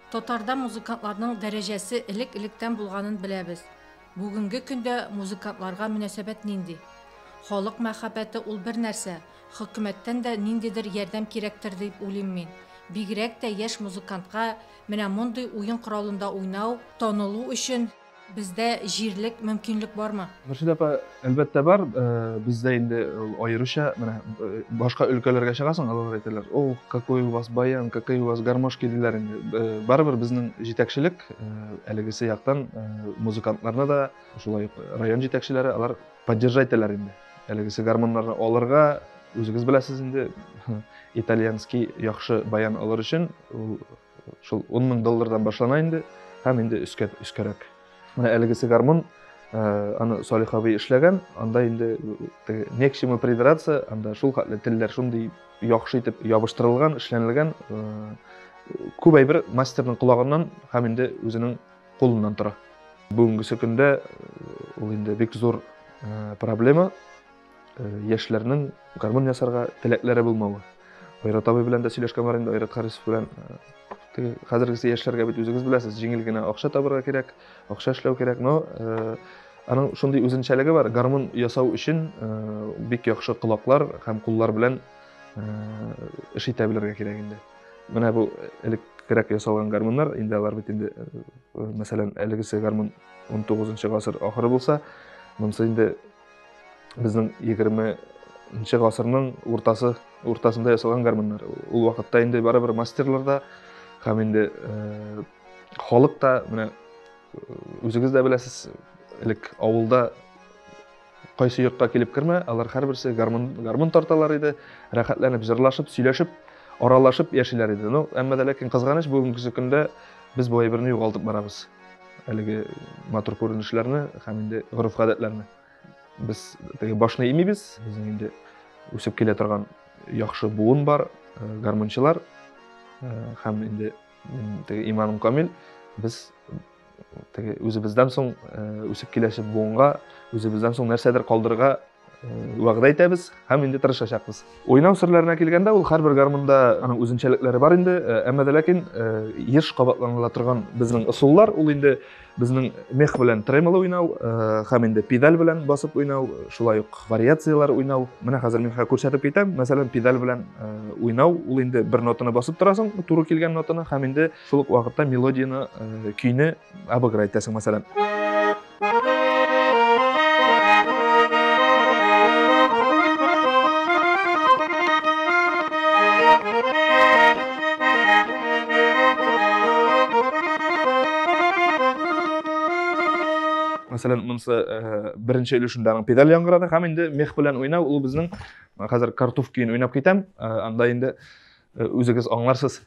Татарда музыкантларның дәрәҗәсе элек-электән булганын беләбез. Бүгенге көндә музыкантларга мөнәсәбәт нинди? Халык мәхәббәте ул бер нәрсә, хөкүмәттән дә ниндидер ярдәм кирәктер дип уйлыйм мин. Бигрәк тә яшь музыкантка менә мондый уен коралында уйнау, танылу өчен Бездә җирлек, мөмкинлек бармы? Мөршидә апа, әлбәттә бар. Бездә инде аеруча, менә башка өлкәләргә чыгасың, алар әйтәләр, о, какой у вас баян, какие у вас гармошки, диләр инде. Барыбер безнең җитәкчелек, әлегесе яктан, музыкантларны да, шулай ук район җитәкчеләре, алар поддержать итәләр инде. Әлегесе гармоннарны алырга, үзегез беләсез инде, итальянский яхшы баян алыр өчен, ул, Шул 10 мең доллардан башлана инде, һәм инде өскә, өскәрәк. Менә әлегесе гармун, э, аны Салих абый эшләгән, анда инде э, не к чему придраться, анда шул хәтле телләр шундый яхшы итеп ябыштырылган, эшләнелгән, э, күп әйбер мастерның колагыннан һәм инде үзенең кулыннан тора. Бүгенгесе көндә ул инде бик зур проблема, яшьләрнең гармун ясарга теләкләре булмавы. Айрат абый белән дә сөйләшкән бар инде, Айрат Харисов белән. Э, хәзергесе яшьләргә бит үзегез беләсез, җиңел генә акча табырга кирәк, акча эшләү кирәк, но э, аның шундый үзенчәлеге бар, гармун ясау өчен э, бик яхшы колаклар һәм куллар белән эш итә белергә кирәк инде. Менә бу элек кирәк ясалган гармуннар, инде алар бит инде, мәсәлән, әлегесе гармун 19 гасыр ахыры булса, монысы инде безнең егерменче гасырның уртасы уртасында ясалган гармуннар ул вакытта инде барыбер мастерлар да һәм инде э, халык та менә үзегез дә беләсез элек авылда кайсы йортка килеп кермә алар һәрберсе гармун гармун тарталар иде рәхәтләнеп җырлашып сөйләшеп аралашып яшиләр иде ну әмма дә ләкин кызганыч бүгенге көндә без бу әйберне югалтып барабыз әлеге матур күренешләрне һәм инде гореф-гадәтләрне. Без теге башны имибез, безнең инде үсеп килә торган яхшы буын бар, э, гармунчылар э, һәм инде теге иманым камил, без теге үзебездән соң э, үсеп киләчәк буынга, үзебездән соң нәрсәдер калдырырга вәгъдә итәбез һәм инде тырышачакбыз уйнау серләренә килгәндә ул һәрбер гармунда аның үзенчәлекләре бар инде э, әмма дә ләкин э, еш кабатланыла торган безнең ысуллар ул инде безнең мех белән тремоло уйнау э, һәм инде педаль белән басып уйнау шулай ук вариацияләр уйнау менә хәзер мин күрсәтеп китәм мәсәлән педаль белән уйнау ул инде бер нотаны басып торасың туры килгән нотаны һәм инде шул ук вакытта мелодияны көйне Әбүбәкер әйтәсең, мәсәлән. мәсәлән монысы э, беренче өлешендә аның педаль яңгырады һәм инде мех белән уйнау ул безнең хәзер картуф көен уйнап китәм э, анда инде Э, үзегез аңларсыз.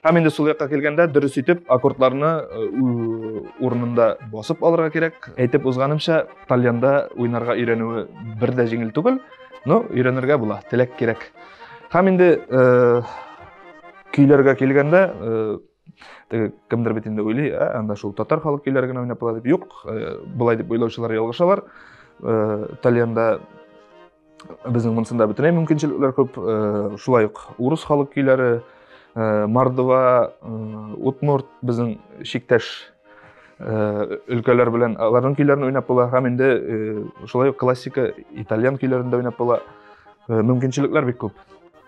Һәм инде сул якка килгәндә дөрес итеп аккордларны э, урынында басып алырга кирәк. Әйтеп узганымча, тальянда уйнарга өйрәнүе бер дә җиңел түгел. Ну, өйрәнергә була, теләк кирәк. Һәм инде э, көйләргә килгәндә, э, теге кемдер бит инде уйлый, ә, анда шул татар халык көйләре генә уйнап була дип. Юк, э, болай дип уйлаучылар ялгышалар. Э, Тальянда безнең монсында бөтенләй мөмкинчелекләр күп. Э, шулай ук урыс халык көйләре, э, Мордова, э, Удмурт безнең чиктәш Э, өлкәләр белән аларның көйләрен уйнап була һәм инде э, шулай ук классика итальян көйләрен дә уйнап була э, мөмкинчелекләр бик күп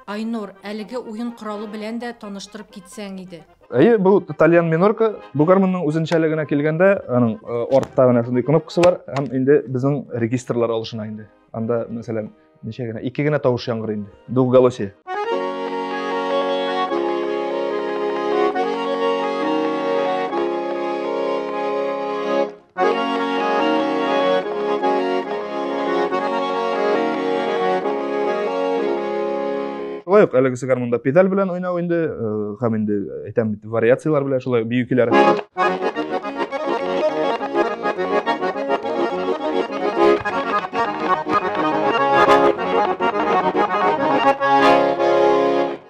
айнур әлеге уен коралы белән дә таныштырып китсәң иде әйе бу итальян минорка бу гармонның үзенчәлегенә килгәндә аның артта менә шундый кнопкасы бар һәм инде безнең регистрлар алышына инде анда мәсәлән ничә генә ике генә тавыш яңгырый инде двухголосие шулай ук әлегесе гармунда педаль белән уйнау инде һәм инде әйтәм бит вариацияләр белән шулай бию көйләре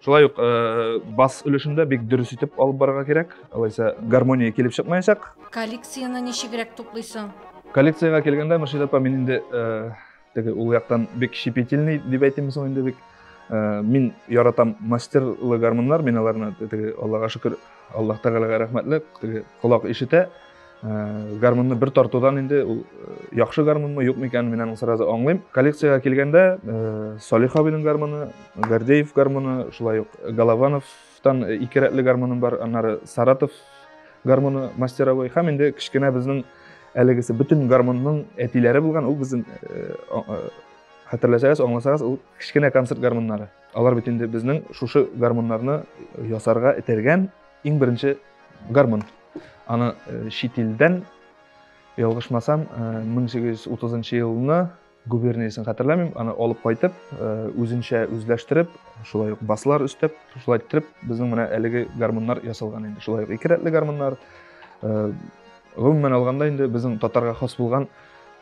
шулай ук э, бас өлешендә бик дөрес итеп алып барырга кирәк алайса гармония килеп чыкмаячак коллекцияне ничегрәк туплыйсың коллекциягә килгәндә мөршидә апа мин инде э, Теге ул яктан бик щепетильный дип әйтимме соң инде бик. Э, мин яратам мастерлы гармуннар, мин аларны теге Аллага шөкер, Аллаһ Тәгаләгә рәхмәтле, теге колак ишетә. Э, гармунны бер тартудан инде ул э, яхшы гармунмы, юкмы икәнен мин аны сразу аңлыйм. Коллекциягә килгәндә, Салих абыйның гармуны, Гордеев гармуны, шулай ук Голованов, Тан ике рәтле гармоным бар, аннары Саратов гармоны мастеровой һәм инде кечкенә безнең әлегесе бөтен гармонның әтиләре булган, ул безнең э, э, хәтерләсәгез, аңласагыз, ул кечкенә концерт гармоннары. Алар бит инде безнең шушы гармоннарны ясарга этәргән иң беренче гармон. Аны э, чит илдән ялгышмасам, 1830 елны губерниясен хәтерләмим, аны алып кайтып, э, үзенчә үзләштереп, шулай ук баслар өстәп, шулай иттереп, безнең менә әлеге гармуннар ясалган инде. Шулай ук ике рәтле гармуннар. Э, гомумән алганда инде безнең татарга хас булган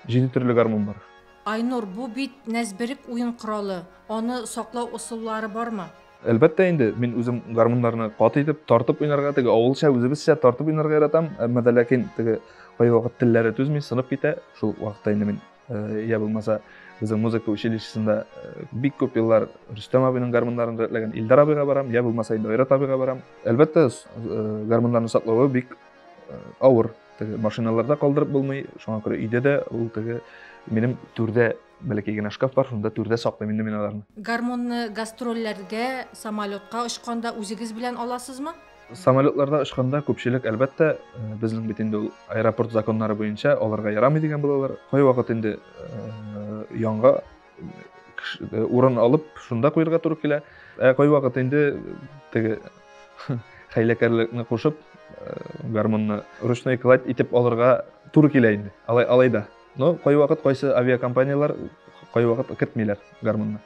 җиде төрле гармун бар. Айнур, бу бит нәзберек уен коралы. Аны саклау ысуллары бармы? Әлбәттә инде, мин үзем гармуннарны кат итеп, тартып уйнарга, теге авылча үзебезчә тартып уйнарга яратам, әмма дә ләкин теге кайвакыт телләре түзми, сынып китә. Шул вакытта инде мин я булмаса безнең музыка училищесында бик күп еллар рөстәм абыйның гармуннарын рәтләгән илдар абыйга барам я булмаса инде айрат абыйга барам әлбәттә гармуннарны саклавы бик авыр теге машиналарда калдырып булмый шуңа күрә өйдә дә ул теге минем түрдә бәләкәй генә шкаф бар шунда түрдә саклыйм инде мин аларны гармунны гастрольләргә самолетка очканда үзегез белән аласызмы Самолетларда очканда күпчелек, әлбәттә, безнең бит инде ул аэропорт законнары буенча аларга ярамый дигән булалар. Кайвакыт инде янга урын алып, шунда куерга туры килә. Ә кайвакыт инде теге хәйләкәрлекне кушып, гармунны ручной кладь итеп алырга туры килә инде. Алай алай да. Но кайвакыт кайсы авиакомпанияләр кайвакыт кертмиләр гармунны.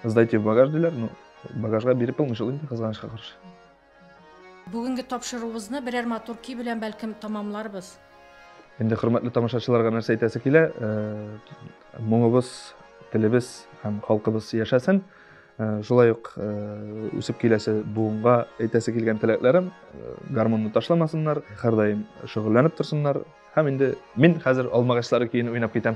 Сдайте в багаж диләр, ну багажга биреп булмый шул инде кызганычка каршы. Бүгенге тапшыруыбызны берәр матур көй белән бәлкем тамамларбыз. Инде хөрмәтле тамашачыларга нәрсә әйтәсе килә? Э, моңыбыз, телебез һәм халкыбыз яшәсен. Э, шулай ук э, үсеп киләсе буынга әйтәсе килгән теләкләрем э, гармонны ташламасыннар һәрдаим шөгыльләнеп торсыннар һәм инде мин хәзер алмагачлары көен уйнап китәм